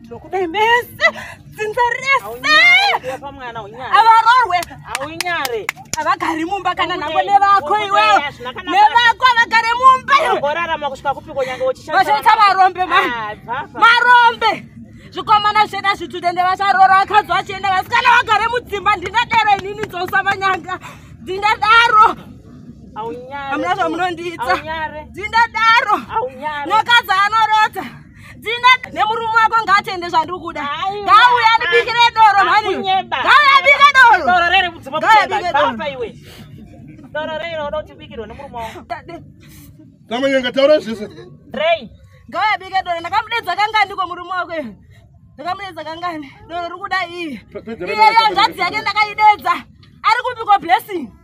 ndinokudai mese dzinza reseavarorwe aunyare avagari mumba kana nhango nevako iwewe nevako avagare mumba iweorarama kusvika kupiko nyange uchivachaita varombe ma marombe zvikomana zveda zvitudende vacharora vakadzi vachienda vasikana vagare mudzimba ndingadero inini dzosa vanyanga ndingadaro amuna zvamunondiita ndingadaro nyakadzi anorota dzina nemurume wako ngaatende zvandiri kuda ngauya ndibikire doro mhani ngauya abike doro doro rere mudzimba ngauya baba iwe doro rere unoda kuti ubikirwe nemurume wako tamanyanga taura zvese rei ngauya abike doro ndakamudedza kanga ndiko murume wako iwe ndakamudedza kangani doro riri kuda iye iyeyo ngadzi yake ndakaidedza ari kupikwa blessing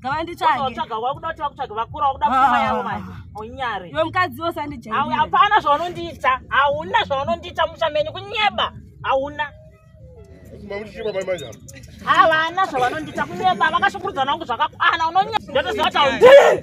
ngavanditsvagewakuda kuti vakutsvage vakura wakuda pfuma yavo manje unyare iwe mukadzi wose andijai hapana zvaunondiita hauna zvaunondiita musha menyu kunyeba hauna havana zvavanondiita kunyeba vakashungurudza nangu zvakakwana unonye ndotoziva kuti haundii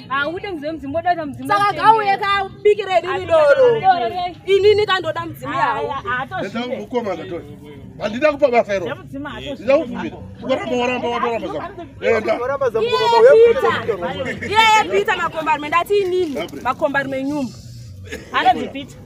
haude ah, mudzimu mudzimu woda mudzimu saka gauye ka biki redu ri doro inini kandoda mudzimu yawo mukoma kato handida kupa basa iro ndida kuvumira ukaramba waramba watoramba zakuendaiyepita makombarme ndati inini makombarme nyumba anadzipita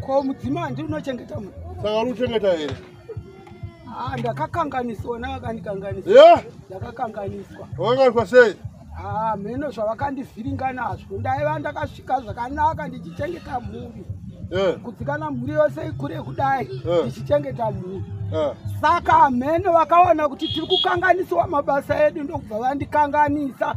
Ko mudzimai ndiri unochengeta mu. Saka uri kuchengeta here? Ah, ndakakanganiswa nakakandikanganiswa. Yeah. Ndakakanganiswa. Wakakanganiswa sei? Ah, mheno zvavakandivhiringa nazvo. Ndaiva ndakasvika zvakanaka ndichichengeta mhuri. Yeah. Kudzikana mhuri yose ikure kudai yeah. ndichichengeta mhuri. Yeah. Saka mheno vakaona kuti tiri kukanganisiwa mabasa edu ndokubva vandikanganisa. Yeah.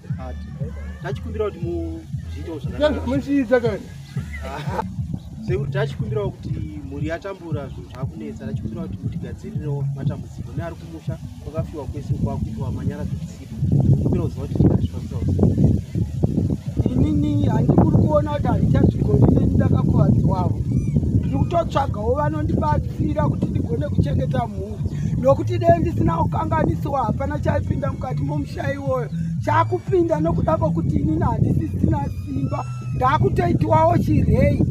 tachikumbira kuti muzviitewo zvakaamuchiita kani sekuti tachikumbirawo kuti mhuri yatambura zvinhu zvakunetsa tachikumbirawo kuti mutigadzirirewo matambudziko neari kumusha kwakafiwa kwese kwakuitwa manyara zvekusipa kumbira kuziva kuti chikazvifambirawo inini handikuri kuona kuti handichazvigoni neni ndakakuvadziwavo ndikutotsvagawo vanondibatsira kuti ndigone kuchengeta mhuri nokuti dee ndisina kukanganisiwa hapana chaipinda mukati momusha iwoyo chakupinda nokuda kwokuti inini handisisina simba ndakutoitiwawo chirei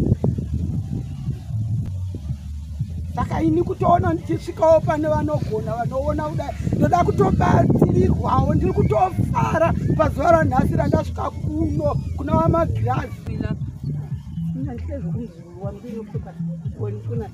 saka ini kutoona ndichisvikawo pane vanogona vanoona kudai ndoda kutobatsirirwawo ndiri kutofara pazuva ranhasi randasvika kuno kuna vamagirazi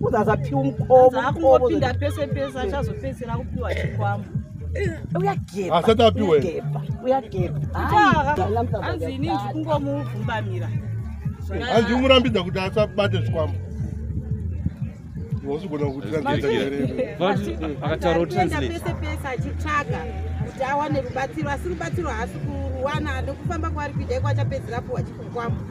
uzazapiwa mukobopinda pese pese achazopedzera kupiwa chikwambo uyagepasati apiwe uyagepaanzi ini ndikungomubvumbamira hanzi umurambidza kuti asabate zvikwambo wasigona kutiakataura kuti pese pese achitsvaga kuti awane rubatsiro asi rubatsiro haasi kuruwana nokufamba kwaari kuita iko achapedzera puwa chikwambo